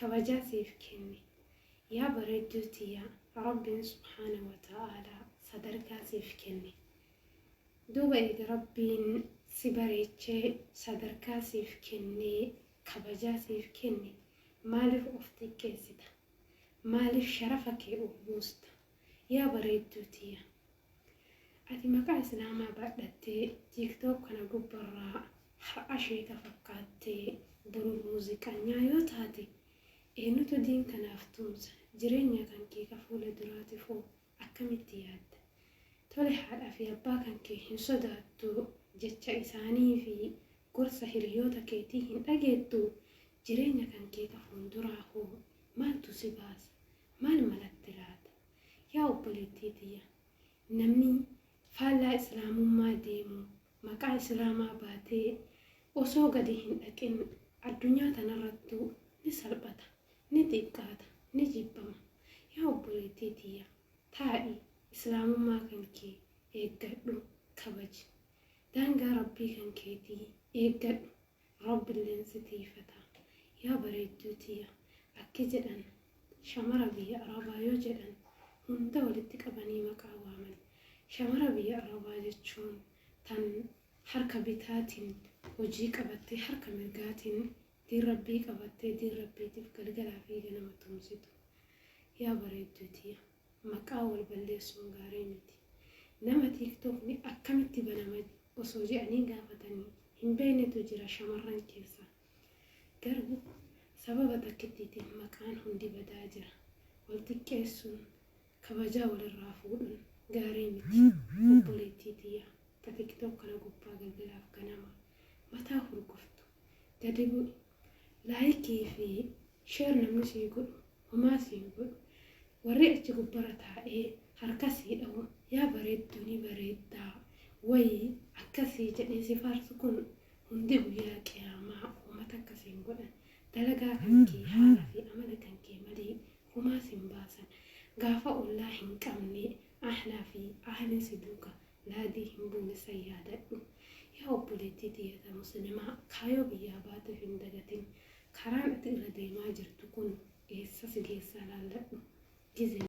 kabajaa siif kenne. Yaa bareedduu tiyya Rabbiin subhaanahu wa ta'aalaa sadarkaa siif kenne. Duuba eega Rabbiin si bareechee sadarkaa siif kennee kabajaa siif kenne maaliif of xiqqeessita? Maaliif sharafa kee ol buusta? Yaa bareedduu tiyya Ati maqaa islaamaa baadhattee tiktok kana gubbarraa har'a sheeka fakkaattee boru muuziqanyaa yoo taate eenutu diin kanaaf tumsa jireenya kankee ka fuula duraatifoo akkamitti yaadda tole haadha fi abbaa kankee hin sodaattu jecha isaanii fi gorsa hiriyoota keetii hin dhageettu jireenya kankee ka fuulduraahoo maaltu si baasa maal malatti laata Yaa obboleettii tiyya! Namni faallaa Islaamummaa deemu, maqaa Islaamaa baatee osoo gadi hin dhaqin addunyaa tanarrattuu ni salphata, ni xiqqaata, ni jibbama. Yaa obboleettii tiyya! Taa'i, Islaamummaa kan kee eeggadhu, kabaji. Daangaa Rabbii kan keetii eeggadhu, Rabbilleen si tiyfata yaa bareedduu tiyya akki jedhan shamara biyya arabaa yoo jedhan hunda walitti qabanii maqaa waaman shamara biyya arabaa jechuun tan harka bitaatin hojii qabattee harka mirgaatin diin rabbii qabattee diin rabbiitif galgalaa fi ganama tumsitu yaa bareedduu tiyya. Maqaa wal balleessuun gaarii miti. Nama tiiktookni akkamitti banama osoo je'anii gaafatanii hin beeynetu jira shamarran keessaa. Garuu sababa takkittiitiin maqaan hundi badaa jira. Wal xiqqeessuun, kabajaa wal irraa fuudhuun gaarii miti. Obboleettii tiyya ta tiktok kana gubbaa galgalaaf ganama mataa hurguftu gadi bu'i. Laayikii fi Share namni sii godhu homaa siin godhu warri achi gubbara taa'ee harka sii dhahu yaa bareedduu ni bareeddaa wayi akkasii jedhee si faarsu kun hundi guyyaa qiyaamaa homaa takka siin godhan dalagaa kan kee haala fi amala kan kee malee homaa siin baasan gaafa ollaa hin qabne ahlaa fi ahliin si duuka laadii hin buune san yaadadhu yaa obboleettii tiyyata muslimaa kaayoo biyyaa baateef hin dagatin Karaan ati irra deemaa jirtu kun eessa si geessaa laalladhu. Gizeen.